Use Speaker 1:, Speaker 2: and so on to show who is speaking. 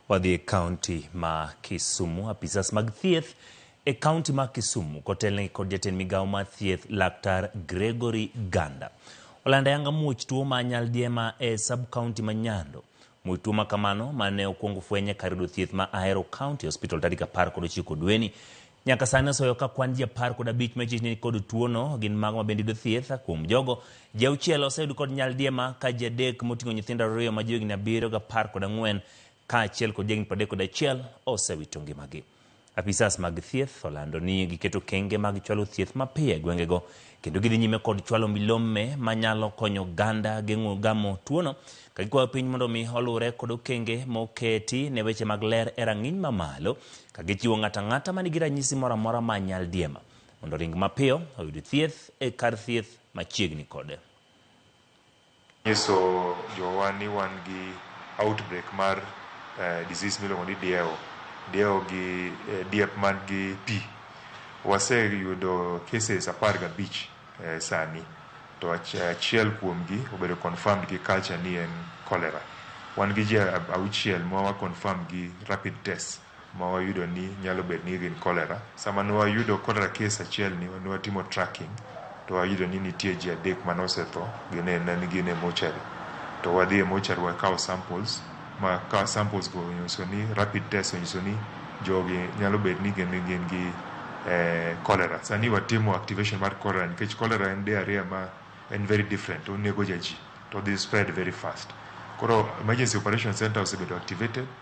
Speaker 1: Wadhi e kaunti ma Kisumu. Apisas mag thieth e kaunti ma Kisumu kotelnegi kod jatend migawo mar thieth laktar Gregory Ganda olando ayanga muoch tuo ma nyaldiema e sub kaunti ma Nyando. Muoch tuo ma kamano ma ne okwong fwenye kar yudo thieth ma Ahero County Hospital tarik apar kod ochiko dweni Nyaka sani osoyo ka kwan ji apar kod abich ma ichich ni kod tuo no gin mago ma bende yudo thieth. Kuom jogo, ji auchiel oseyud kod nyaldiema ka ji adek moting'o nyithindo ariyo ma johigni abiriyo gi apar kod ang'wen kaachiel kod jahigni pradek kod achiel osewito ngimagi. Apisas mag thieth olando ni giketo okenge mag chwalo thieth mapiyo e gwengego Kendo gidhi nyime kod chwalo milome manyalo konyo oganda geng'o gamo tuono ka gikwayo piny mondo mi oluwre kod okenge moketi ne weche mag ler e rang'iny mamalo ka gichiwo ng'ato ang'ata manigi ranyisi moro amora ma nyaldiema mondo oring mapiyo oyud thieth e kar thieth machiegni kode. Inyiso
Speaker 2: jowa ni wan gi outbreak mar disease miluongo ni dieo, dieo gi diep man gi pi. Waseyudo cases apar gabich sani to achiel kuom gi obedo confirmed gi culture ni en cholera. Wan gi ji auchiel ma wa confirm gi rapid test ma wayudo ni nyalo bedo ni gin cholera. Sama ne wayudo cholera case achiel ni ne watimo tracking to wayudo ni nitie ji adek mane osetho gin e ne gin e mochari. To wadhi e mochari wakawo samples ma ka samples go onyiso ni rapid test onyiso ni jogi nyalo bedo ni gin gin gi eh, cholera. Sani watimo activation mar cholera nikech cholera en diarrhea ma en very different onego ja ji to dhi spread very fast. Koro emergency operation center osebedo activated